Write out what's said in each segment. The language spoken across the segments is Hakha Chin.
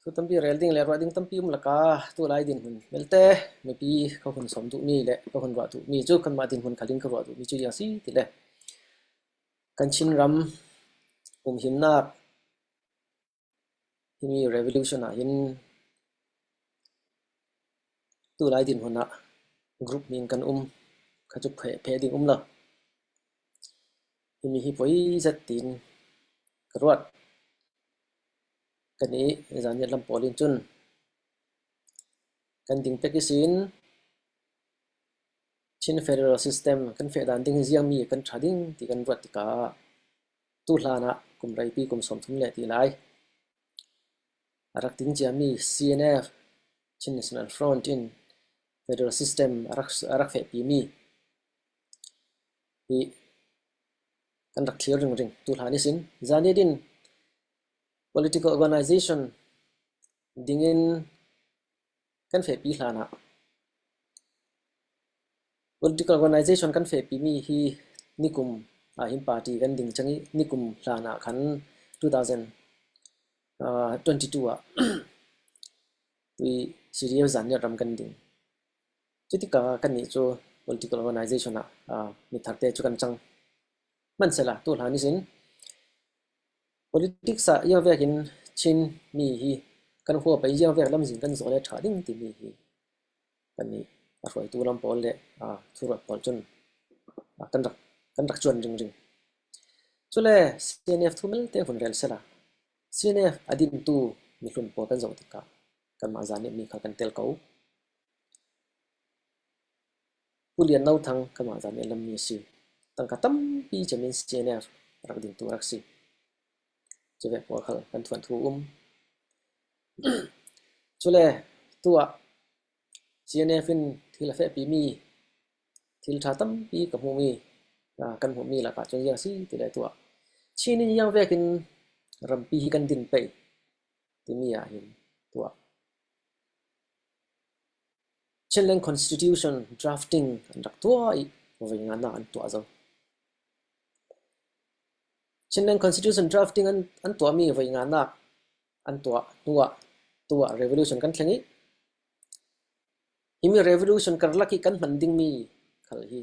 Thu tampi rel ding le ruah ding tampi um lakah tu lai dinhmun belte mipi ka hun sawm duhmi le ka hun ruah duhmi cu kanmah dinhmun khalin ka ruah duhmi cu hi a si ti le kan Chinram umhimnak himi revolution ahhin tu lai dinhmun ah group nih in kan um kha cu phe ding um lo. Himi hi poi zat tiin ka ruat. Kan i zanriat lam pawl in cun kan ding pek i sin Chin Federal System kan fehdan ding i ziangmi kan tha ding ti kan ruat tikah tu hlan ah kum reipi kum sawmthum le ti lai a rak ting ciami CNF Chin National Front in federal system a rak a rak fehpimi hi kan rak thlir ringring. Tuhlan isin zan idin political organization dingin kan fehpi hlan ah political organization kan fehpimi hi nikum ah hin party kan ding cang i nikum hlan ah khan 2022 ah tui Syria zan nih ram kan ding. Cutikah kannih cu political organisation ah mitharte cu kan cang. Hmanhsehlaw tuhlan nih cun politics ah iavek in Chinmi hi kan huapei iavek lam zin kan zaw le ṭha ding timi hi kannih a hruaitu lam pawl le thuruat pawl cun kan rak ṭuan ringring. Cule CNF thumelte hun rel sehla CNF a dintu mihlun pawl kan zoh tikah Kanmah zaa nih mi kha kan tel ko. Pu Lian No Thang kanmah zaa nih a lammi a si. Tangka tampi cem in CNF rak dingtu a rak si. Cule pawl khal kan thuan thu um. Cule tu ah CNF in thil a fehpi mi, thil ṭha tampi ka hmuh mi, kan hmuh mi lakah cun ziang a si ti le tu ah Chin in iang vek in rampi hi kan din pei. timi ahhin tuah. Chinland Constitution drafting an rak tuah i voi nganak an tuah zo. Chinland Constitution drafting an, an tuahmi voi nganak an tuah tuah tuah revolution kan thleng i himi revolution karlak i kan hman dingmi khal hi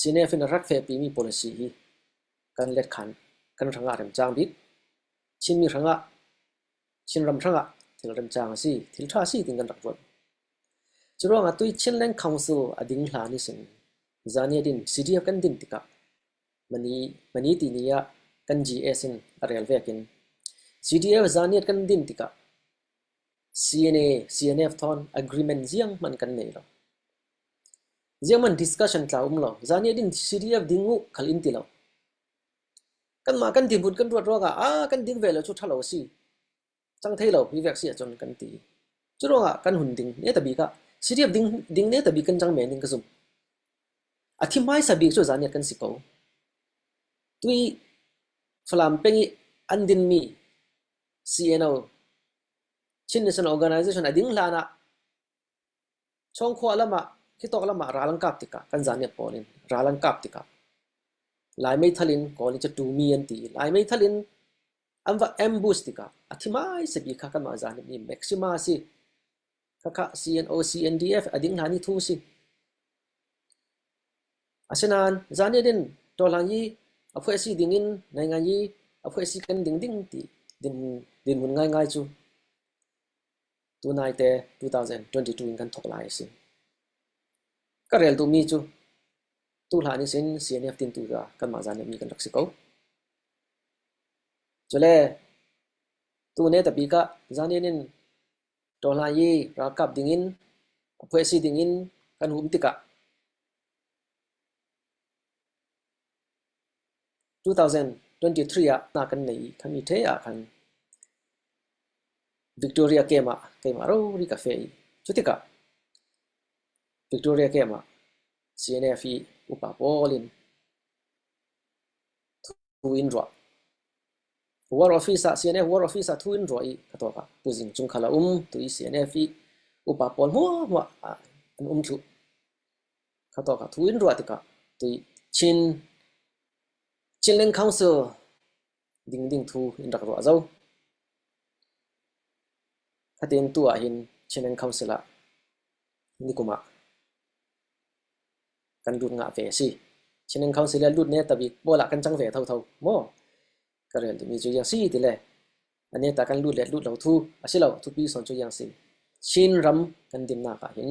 Senate in a rak fekpi mi policy hi kan letkhan kan hrangah remcang bik, Chinmi hrangah, Chinram hrangah thil remcang a si, thil ṭha a si tiin kan rak ruat. Curuangah tui Chinland Council a ding hlan i sin zani adin CDF kan din tikah mani mani ti ni ah kan GS in a rel vekin CDF zani kan din tikah CNA CNF thon agreement ziang hman kan nei lo. Ziaman discussion tla um lo. Zan i din serious ding uh khal in ti lo. Kanmah kan dirhmun kan ruat ruangah ah kan ding ve lo cu ṭhalo a si. Cang thei lo hi vek si ahcun kan ti. Cu ruangah kan hun ding ne tabik ah serious ding ding ne tabik kan cang men ding ka zumh. A thi hmaisa bik cu zan i kan si ko. Tui Falam peng i an dinmi CNO Chin National Organization a ding hlan ah Chawngkhua lam ah, khitawk lam ah ral an kap tikah kan zaniah kawl in ral an kap tikah Lai meithal in kawl i Catumi an ti i Lai meithal in an va ambush tikah a thi hmaisa bik kha kanmah zan hi Maxima a si, khakha CNO-CNDF a ding hlan i thu si. Asinain zan i din tawhlan hi a phuai si ding in nai ngai i a phuai si kan ding ding ti dinhmun ngai ngai cu Tunaite 2022 in kan thawk lai a si. Ka rel duhmi cu tuhlan in sin CNF tintu kha kanmah zan nih mi kan rak si ko. Cule tune tabi ka zanin in ṭawhlan i ralkap dingin a phuai si dingin kan um tikah 2023 ah hna kan nei i kan i ṭhe ahkhan Victoria Camp ah keimah rori ka feh i cu tikah Victoria Camp ah CNF i upa pawl in thu in ruah. War Office ah CNF War Office ah thu in ruah i ka tuak ah tuzing chung khala um tu i CNF i upa pawl hmuahmuah ah an um thlu. Kha tok ah thu in ruah tikah ti Chin Chinland Council dingding thu in rak ruah zau. Khatin tu ah hin Chinland Council ah nikum ah kan lut ngah ve a si. Chinland Council le lut ne tabik bola kan chang ve tho tho maw ka rel dimi cu yang si ti le ane ta kan lut le lut lo thu a si lo thupi son cu yang si Chin ram kan din nak ah hin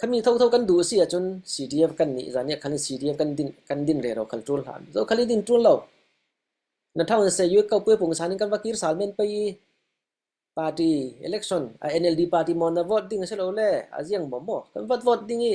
Khami thotho kan duh a si ahcun CDF kan nih zan ah khan CDF kan din rero kha ṭul hlah. Zokhal i din ṭul lo. Na ṭhang in Sayuk Kaupuai Pung san in kan va kir sal men pei i party election a NLD party mon na vote ding a si lo le a ziang maw maw kan vat vote ding i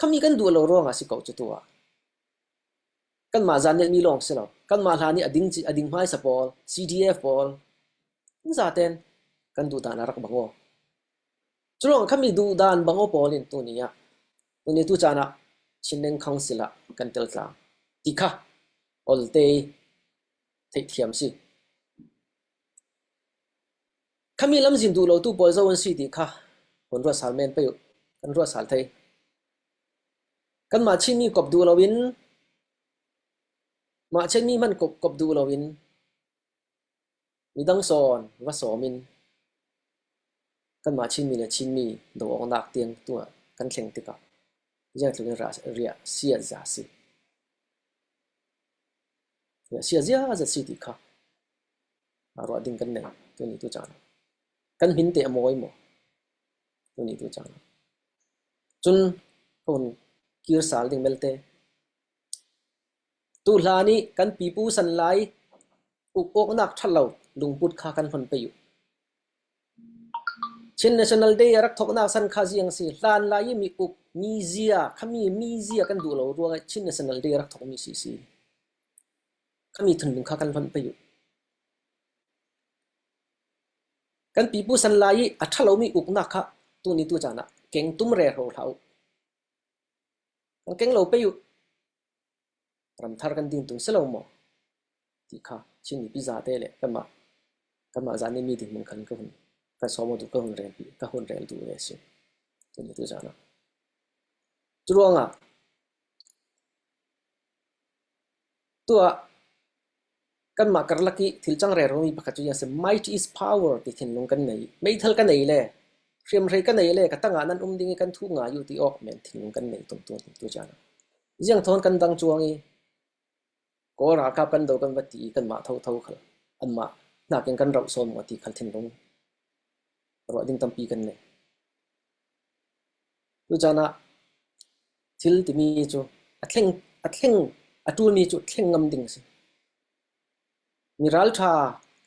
Khami kan duh lo ruangah a si ko cu tu ah. Kanmah zandelmi lawng si lo. Kanmah hla nih a ding a ding hmaisa pawl, CDF pawl, zaaten kan duhdan a rak bang aw. Curuang khami duhdan bang aw pawl in tuni ah, tuni tu caan ah Chinland Council ah kan tel tlang. Ti kha olte i theihthiam si. Khami lam zin duh lotu pawl zoh an si ti kha kan ruat sal men pei uh. Kan ruat sal thei. Kanmah Chinmi kop duh loin, mah Chinmi hmanh kop, kop duh loin, midang sawn va sawm in kanmah Chinmi le Chinmi daw awk nak tiang tu ah kan thleng tikah zeitluk in riah, riah si ah zah a si. Sia ziaza si ti kha ruah ding kan nei tuni tu caan ah. Kan min te a mawi maw tuni tu caan ah. Cun hun kir sal ding belte tu hla nih kan pipu san lai uk awknak ṭhalo lungput kha kan hon pe u. Chin National Day a rak thawknak san kha ziang a si? Hlan lai i miuk, mizia, khami mizia kan duh lo ruangah Chin National Day a rak thawkmi si a si. Khami thundung kha kan hlonh pei u. Kan pipu san lai i a ṭhalomi uknak kha tuni tu caan ah keng tum rero hlah u. Kan keng lo pei u. Ramthar kan din tung si lo maw? ti kha Chin mipi zate le kanmah, kanmah zan i mi dinhmun khan ka hun kan sawm duh ka hun rel ka hun rel duh ve a si. Cun atu zan ah. Cu ruangah tuah Kanmah karlak i thil changrermi pakhat cu a si. Might is power ti thinlung kan ngei. Meithal ka nei le hriamhrei ka nei le ka tangah nan um ding i kan thuh ngai u ti awk men thinlung kan ngei tung tu tu caan ah. Ziang thawn kan dang cuang i Kawl ralkap kan do kan va ti i kanmah thotho khal anmah nakin kan rauh sawm maw ti khal thinlung ruah ding tampi kan ngei. Cucan ah thil timi cu a thleng a ṭulmi cu thleng ngam ding a si. Mi ralṭha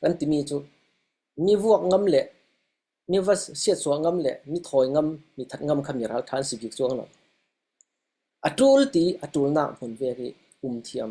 kan timi cu mi vuak ngam le mi va siatsuah ngam le mi thawi ngam, mi that ngam kha mi ralṭha an si bik cuang lo. A ṭul ti a ṭulnak hmun ve khi um thiam.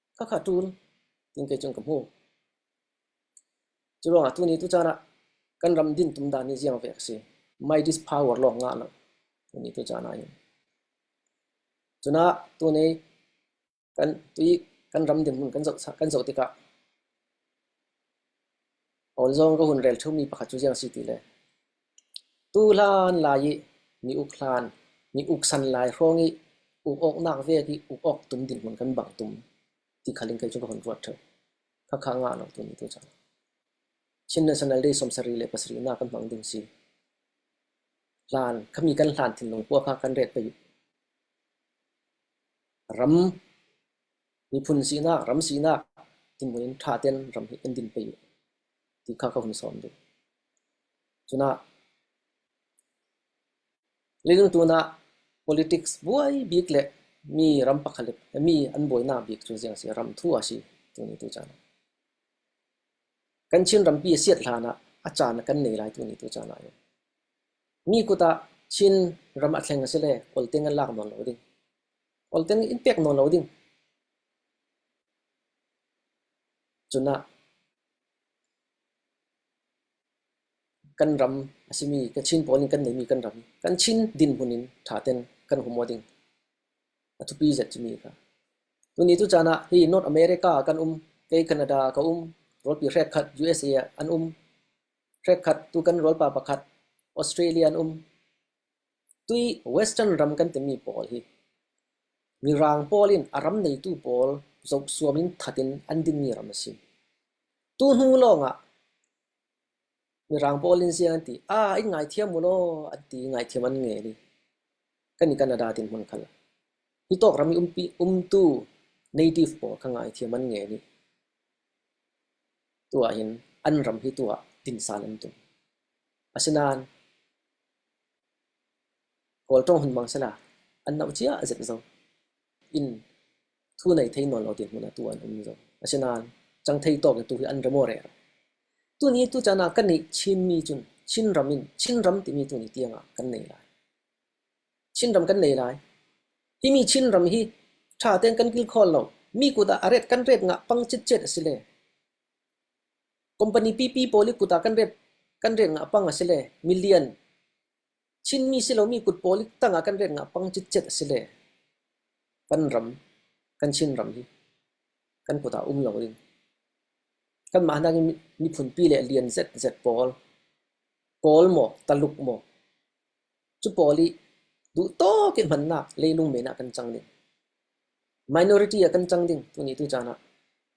Khakha ṭun tiin kei cun ka hmuh. Curuangah tuni tucaan ah kan ram dintum dan hi ziang ve a si. My Dis Power lawng ngah lo tuni tucaan ah hin. Cunah tuni kan tui kan ram dinhmun kan zoh kan zoh tikah awl zong ka hun rel ṭheumi pakhat cu ziang si ti le Tu hlan lai i ni uk hlan, ni uk san lai hrawng i uk awknak vel hi uk awk tum dinhmun kan bangh tum ti khal in kei cu ka hun ruat ṭheu. Khakha ngah lo tu nih tu cang. Chin National Day sawmsarih le pasarih nak kan hmang ding si. Hlan, khami kan hlan thinlung khua kha kan ret pei. Ram, miphun sinak, ram sinak, tinhmun in ṭha ten ram hi kan din pei ti kha ka hun sawm ding. Minung tun ah politics buai bik le mi ram pakhalip he mi an buainak bik cu ziang a si? Ram thu a si tuni tu caan ah. Kan Chin rampi a siat hlan ah a caan a kan nei lai tuni tu caan ah hi. Mi kut ah Chin ram a thleng a si le Kawlteng an lak nawn lo ding. Kawlteng in pek nawn lo ding. Cun ah Kan ram a simi Kachin pawl nih kan neihmi kan ram, kan Chin dinhmun in ṭha tein kan hum awk ding a thupi zet cimi a ka. Tuni tu caan ah hi North America ah kan um, kei Canada ah ka um, rawlpi hrekkhat USA ah an um, hrekkhat tu kan rawlpa pakhat Australia an um. Tui Western ram kan timi pawl hi mirang pawl in a ram neitu pawl zohsuam in that in an dinmi ram a si. Tu hnu lawngah mirang pawl in ziang an ti, aa in ngaithiam u law an ti i ngaithiam an ngei rih. Kan i Canada tin hmang kal. Hi tawk ram i umpi, umtu native pawl kha ngaithiam an ngei rih. Tu ah hin an ram hi tu ah tinsan an tum. Asinain Kawl ṭawng hun hmang sela, an nauh cia a zet zong in thu nei thei nawn lo tiah hmun ah tu an um zong. Asinain cangthei tawk in tu hi an ra maw rel? Tuni tu caan ah kan i Chinmi cun Chinram in Chinram timi tuni tiang ah kan nei lai. Chinram kan nei lai. Hi mi Chinram hi ṭha tein kan kil khawl lo. Mi kut ah a ret kan ret ngah pang citcet a si le Company pipi pawl i kut ah kan rek ngah pang a si le million, Chinmi silomi kut pawl i tang ah kan rek ngah pang citcet a si le kan ram, kan Chin ram hi kan kut ah um lo ding. Kanmah hna hi miphunpi le lian zetzet pawl, Kawl maw, Taluk maw, cu pawl i duhtawk in hmannak leilung men ah kan cang ding. Minority ah kan cang ding tuni tu caan ah.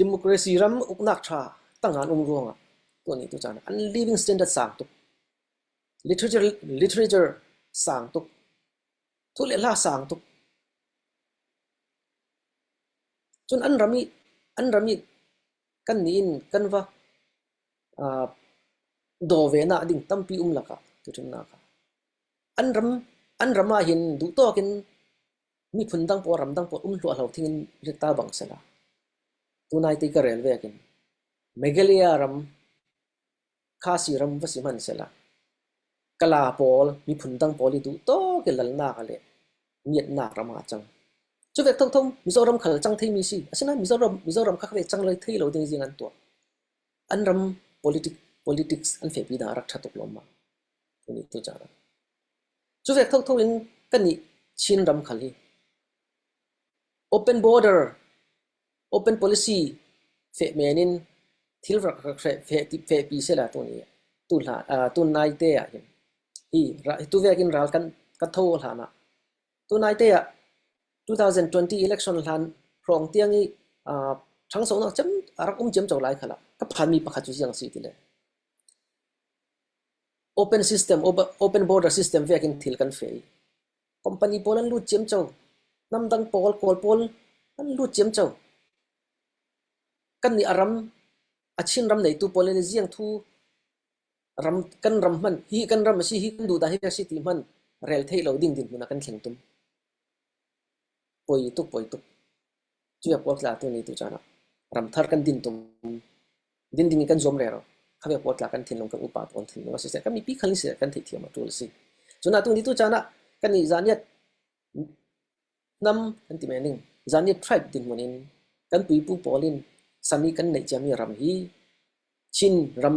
Democracy ram uknak ṭha tangan um ruangah tuan ngeitu caan ah an living standard sang tuk. Literature sang tuk. Thu le hla sang tuk. Cun an ram i an ram i kan nih in kan va uh, dovenak ding tampi um lakah tuṭinnak ah an ram an ram ah hin duhtawk in Miphun dang pawl ram dang pawl um hluahlo thing in ritta bang sela, tunai ti ka rel ve ahkhin Meghalaya ram, Khasi ram va si hmanhsehla Kala pawl, miphun dang pawl i duhtawk i lalnak le miatnak ram ah a cang. Cuvek thongthong Mizoram khal cang theimi si. Asinain Mizoram, Mizoram kha ve cang le thei lo ding zing an tuah. An ram politic, politics an fehpi dah a rak ṭha tuk lawmmam. Tuni tu caah. Cu ve thotho in ka nih Chin ram khal hi open border, open policy feh men in thil rak rak fehpi sehla tun naite ah hin tu vek in ral kan tho hlan ah tun naite ah 2020 election hlan hrawng tiang i ṭhangsawhnak a rak um ciamco lai kha lah ka phanmi pakhat cu ziang a si ti le. Open system, open border system viak in thil kan feh i company pawl an lut ciam co. Hnamdang pawl, Kawl pawl an lut ciam co. Kannih a ram, a Chinram neitu pawl nih ziangthu ram kan ram hmanh hi kan ram a si, hi kan duhdah hi a si ti hmanh rel thei lo ding ding hmun ah kan thleng tum. Poi tuk poi tuk. Cuiak puaktla tu ni tu caan ah ramthar kan din tum. Din ding in kan zuam rero. Khamia puaktla kan thinlung kan upa pawn thinlung a siseh kan mi pi khalin siseh kan theithiam a tul a si. Cun atu ni tu caan ah kan ni zaniat nam kan ti mening zaniat tribe din mun in kan puipu pawl in sami kan neih ciami ram hi Chin ram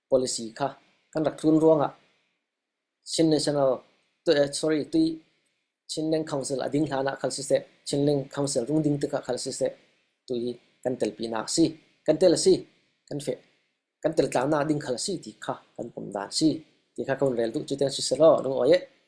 policy kha kan rak tlun ruangah Chin National sorry tui Chinland Council a ding hlan ah kal siseh Chinland Council rung ding tikah kal siseh tu hi kan telpinak a si kan tel a si kan fe kan teltlanak ding khal a si ti kha kan pom dan si ti kha kan rel duh cu tiang si selaw rung oi eh